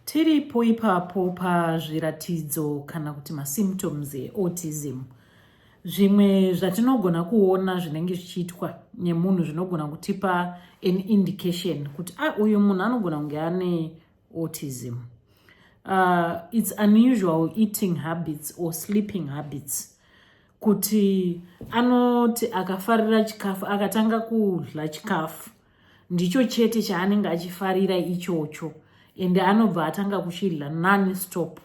Tiripo ipapo pazviratidzo kana kuti masymptoms eautism. Zvimwe zvatinogona kuona zvinenge zvichiitwa nemunhu zvinogona kutipa an indication kuti ah, uyu munhu anogona kunge ane autism. Uh, it's unusual eating habits or sleeping habits kuti anoti akafarira chikafu akatanga kudla chikafu ndicho chete chaanenge achifarira ichocho ende anobva atanga kuchidla nani stop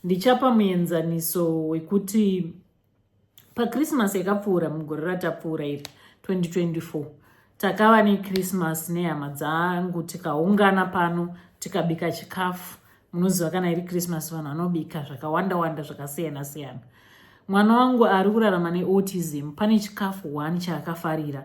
ndichapa muenzaniso wekuti pakrismas yakapfuura mugore ratapfuura iri 2024 takava nekrismas nehama dzangu tikaungana pano tikabika chikafu munoziva kana iri krismas vanhu vanobika zvakawanda wanda zvakasiyana siyana mwana wangu ari kurarama neautism pane chikafu one chaakafarira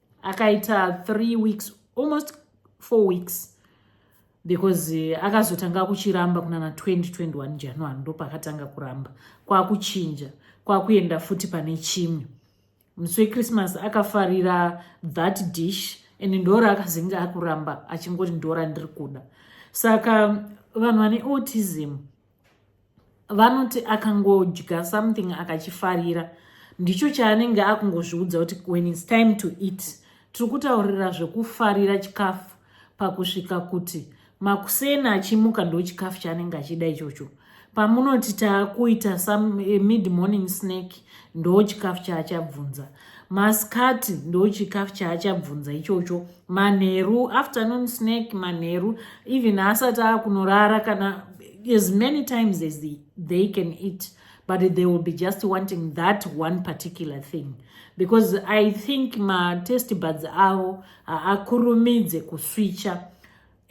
akaita three weeks almost four weeks because eh, akazotanga kuchiramba kunana 2021 january ndopakatanga kuramba kwakuchinja kwakuenda futi pane chimwe musi wechristmas akafarira that dish and ndora akazenge akuramba achingoti ndora ndiri kuda saka vanhu vane autism vanoti akangodya something akachifarira ndicho chaanenge akungozviudza kuti when its time to eat tiri kutaurira zvekufarira chikafu pakusvika kuti makuseni achimuka ndo chikafu chaanenge achida ichocho pamunoti taakuita some eh, mid morning snack ndo chikafu chaachabvunza maskati ndochikafu chaachabvunza ichocho manheru afternoon snack manheru even haasati akunorara kana as many times as they, they can eat but they will be just wanting that one particular thing because i think matest buds avo haakurumidze kuswicha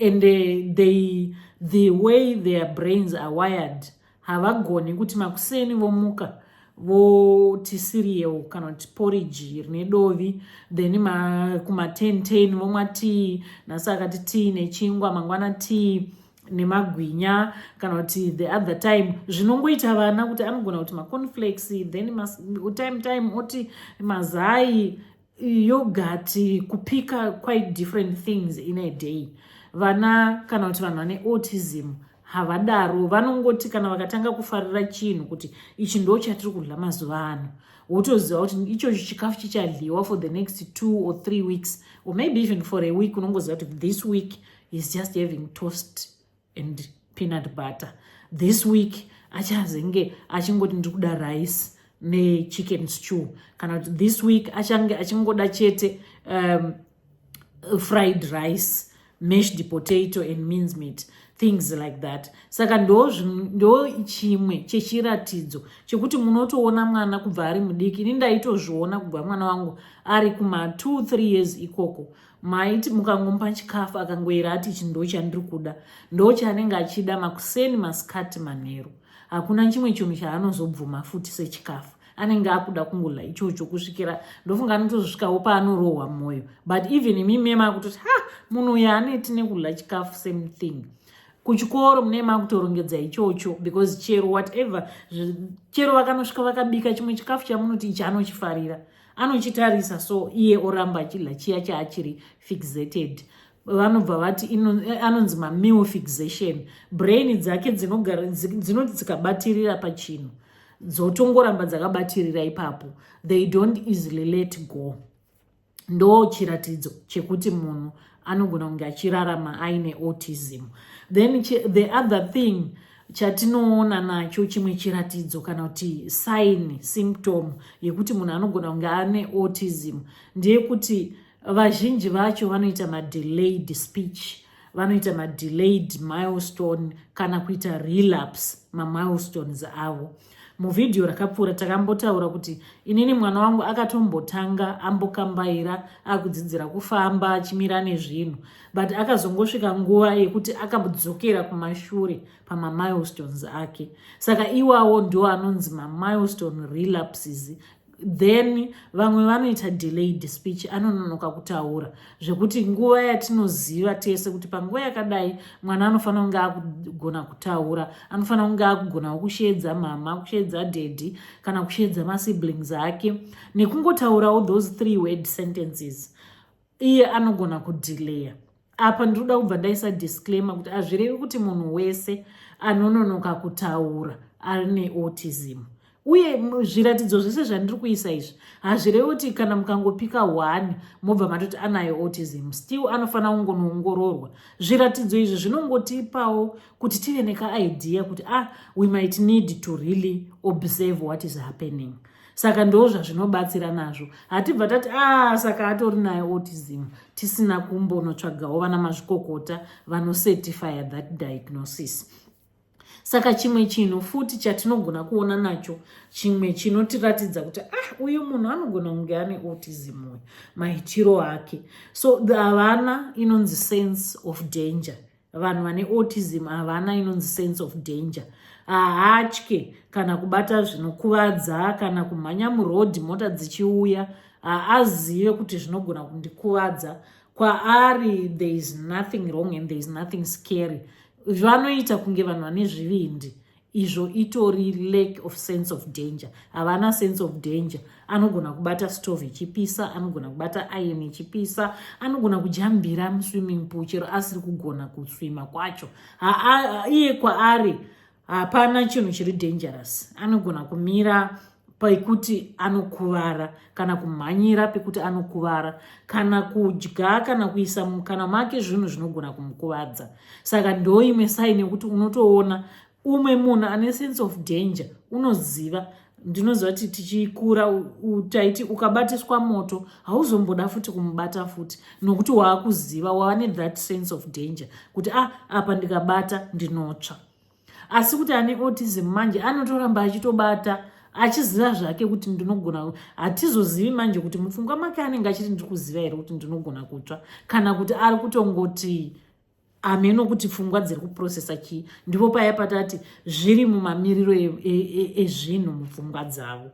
and uh, they, the way their brains are wired havagoni kuti makuseni vomuka voti cereal kana kuti porridge rine dovi then kuma10 10 vomwa tii nhasi akati tii nechingwa mangwana tii nemagwinya kana kuti the other time zvinongoita vana kuti anogona kuti maconflex then time time oti mazai yogurt kupika quite different things in a day vana kana kuti vanhu vane autism havadaro vanongoti kana vakatanga kufarira chinhu kuti ichi ndo chatiri kudya mazuva ano wotoziva kuti ichocho chikafu chichadliwa for the next two or three weeks or maybe even for a week unongoziva kuti this week is just having toast and peanut butter this week achazenge achingoti ndiri kuda rice nechicken stew kana kuti this week achange achingoda chete um, fried rice mashed potato and means meat things like that saka ndo ndo chimwe chechiratidzo chekuti munotoona mwana kubva ari mudiki ini ndaitozviona kubva mwana wangu ari kuma 23 years ikoko maiti mukangomupa chikafu akangoyera ati ichi ndo chandiri kuda ndo chaanenge achida makuseni masikati manheru hakuna chimwe chinhu chaanozobvuma futi sechikafu anenge akuda kungola ichocho kusvikira ndofunga anotozosvikawo paanorohwa mwoyo but even imi mema akutoti ha munhu uyo aneti nekudla chikafu same thing kuchikoro mune makutorongedza ichocho because chero whatever chero vakanosvika vakabika chimwe chikafu chamunoti ichi anochifarira anochitarisa so iye oramba achidla chiya chaachiri fixated vanobva vati eh, anonzi mameal fixation brain dzake dzinogara dzinoti dzikabatirira pachinhu dzotongoramba dzakabatirira ipapo they don't easily let go ndo chiratidzo chekuti munhu anogona kunge achirarama aine autism then the other thing chatinoona nacho chimwe chiratidzo kana kuti sign symptom yekuti munhu anogona kunge ane autism ndeyekuti vazhinji vacho vanoita madelayed speech vanoita madelayed milestone kana kuita relapse mamilestones avo muvhidhiyo rakapfuura takambotaura kuti inini mwana wangu akatombotanga ambokambaira akudzidzira kufamba achimira nezvinhu but akazongosvika nguva yekuti akadzokera kumashure pamamilestones ake saka iwawo ndo anonzi mamilestone relapses then vamwe vanoita delayed speech anononoka kutaura zvekuti nguva yatinoziva tese kuti panguva yakadai mwana anofanira kunge akugona kutaura anofanira kunge akugonawo kusheedza mhama kusheedza daddy kana kusheedza masiblings ake nekungotaurawo those three word sentences iye anogona kudhileya apa ndinoda kubva ndaisa disclaimer kuti hazvirevi kuti munhu wese anononoka kutaura ari neautism uye zviratidzo zvese zvandiri kuisa izvi hazvirevi kuti kana mukangopika one mobva matoti anayo autism still anofanira kungonoongororwa zviratidzo izvi zvinongotipawo kuti tive nekaidea kuti ah we might need to really observe what is happening saka ndozvazvinobatsira nazvo hatibva tati a ah, saka atori nayo autism tisina kumbonotsvagawo vana mazvikokota vanocertifya that diagnosis saka chimwe chinhu futi chatinogona kuona nacho chimwe chinotiratidza kuti ah uyu munhu anogona kunge ane autism uyu maitiro ake so havana inonzi sense of danger vanhu vane autism havana inonzi sense of danger haatye kana kubata zvinokuvadza kana kumhanya murodhi mota dzichiuya haazive kuti zvinogona kundikuvadza kwaari there is nothing wrong and there is nothing scary vanoita kunge vanhu vane zvivindi izvo itori lack of sense of danger havana sense of danger anogona kubata stove ichipisa anogona kubata iron ichipisa anogona kujambira muswimming pool chero asiri kugona kuswima kwacho iye kwaari hapana chinhu chiri dangerous anogona kumira pekuti anokuvara kana kumhanyira pekuti anokuvara kana kudya kana kuisa mukana make zvinhu zvinogona kumukuvadza saka ndoimwe saini yekuti unotoona umwe munhu ane sense of danger unoziva ndinoziva kuti tichikura taiti ukabatiswa moto hauzomboda futi kumubata futi nokuti waakuziva wava nethat sense of danger kuti ah apa ndikabata ndinotsva asi kuti ane autism manje anotoramba achitobata achiziva zvake kuti ndinogona hatizozivi manje kuti mupfungwa make anenge achiti ndiri kuziva here kuti ndinogona kutsva kana kuti ari kutongoti hameno kuti pfungwa dziri kuprocesa chii ndipo paya patati zviri mumamiriro e, e, e, ezvinhu mupfungwa dzavo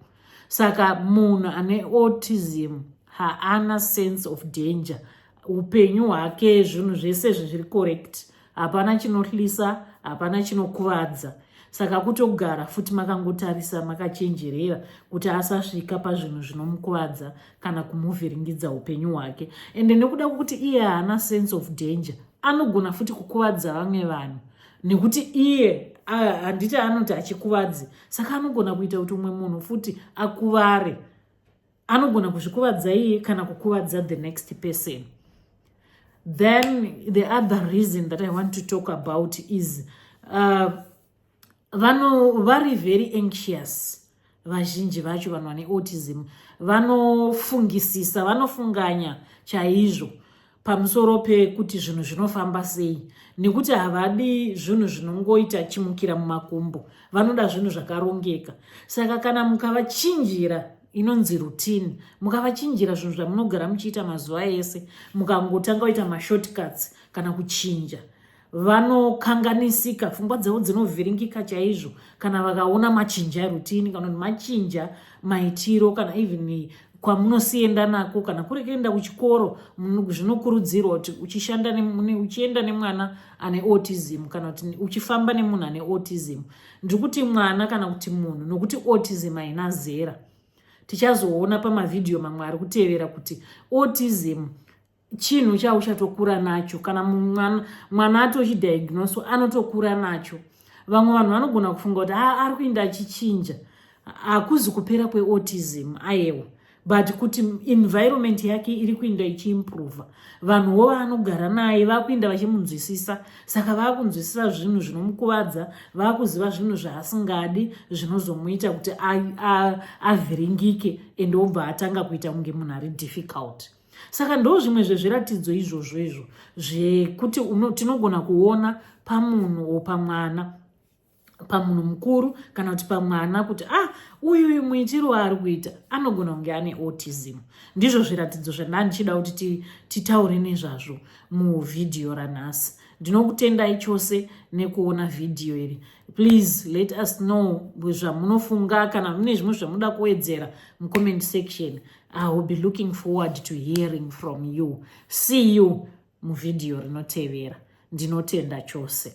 saka munhu ane autism haana sense of danger upenyu hwake zvinhu zvese zvezviri correct hapana chinohlisa hapana chinokuvadza saka kutogara futi makangotarisa makachenjerera kuti asasvika pazvinhu zvinomukuvadza kana kumuvhiringidza upenyu hwake ende nekuda kwekuti iye haana sense of danger anogona futi kukuvadza vamwe vanhu nekuti iye handiti anoti achikuvadzi saka anogona kuita kuti umwe munhu futi akuvare anogona kuzvikuvadza iye kana kukuvadza the next person then the other reason that i want to talk about is uh, vano vari very anxious vazhinji vacho vanhu vane autism vanofungisisa vanofunganya chaizvo pamusoro pekuti zvinhu zvinofamba sei nekuti havadi zvinhu zvinongoita chimukira mumakumbo vanoda zvinhu zvakarongeka saka kana mukavachinjira inonzi rutini mukavachinjira zvinhu zvamunogara muchiita mazuva ese mukangotanga kuita mashortcuts kana kuchinja vanokanganisika pfungwa dzavo dzinovhiringika chaizvo kana vakaona machinja erutini kana kuti machinja maitiro kana even kwamunosienda nako kana kuri kuenda kuchikoro zvinokurudzirwa kuti uchishanda uchienda nemwana ane autism kana kuti uchifamba nemunhu ane autism ndiri kuti mwana kana kuti munhu nokuti autism haina zera tichazoona pamavhidhiyo mamwe ari kutevera kuti autism chinhu chauchatokura nacho kana mwana, mwana atochidiagnoso anotokura nacho vamwe vanhu vanogona kufunga kuti ah, ari kuinda achichinja hakuzi kupera kweautism ayewa but kuti environment yake iri kuinda ichiimprova vanhuwo vaanogara naye vakuinda vachimunzwisisa saka vakunzwisisa zvinhu zvinomukuvadza vakuziva zvinhu zvaasingadi zvinozomuita kuti avhiringike and obva atanga kuita kunge munhu ari difficult saka ndo zvimwe zvezviratidzo izvozvo izvo zvekuti tinogona kuona pamunhu o pamwana pamunhu mukuru kana kuti pamwana kuti ah uyu uyu muitiro waari kuita anogona kunge ane autism ndizvo zviratidzo zvandandichida kuti titaure nezvazvo muvhidhiyo ranhasi ndinokutendai chose nekuona vhidhiyo iri please let us know zvamunofunga kana mune zvimwe zvamuda kuwedzera mucomment section I will be looking forward to hearing from you. See you muvideo rinotevera. Ndinotenda chose.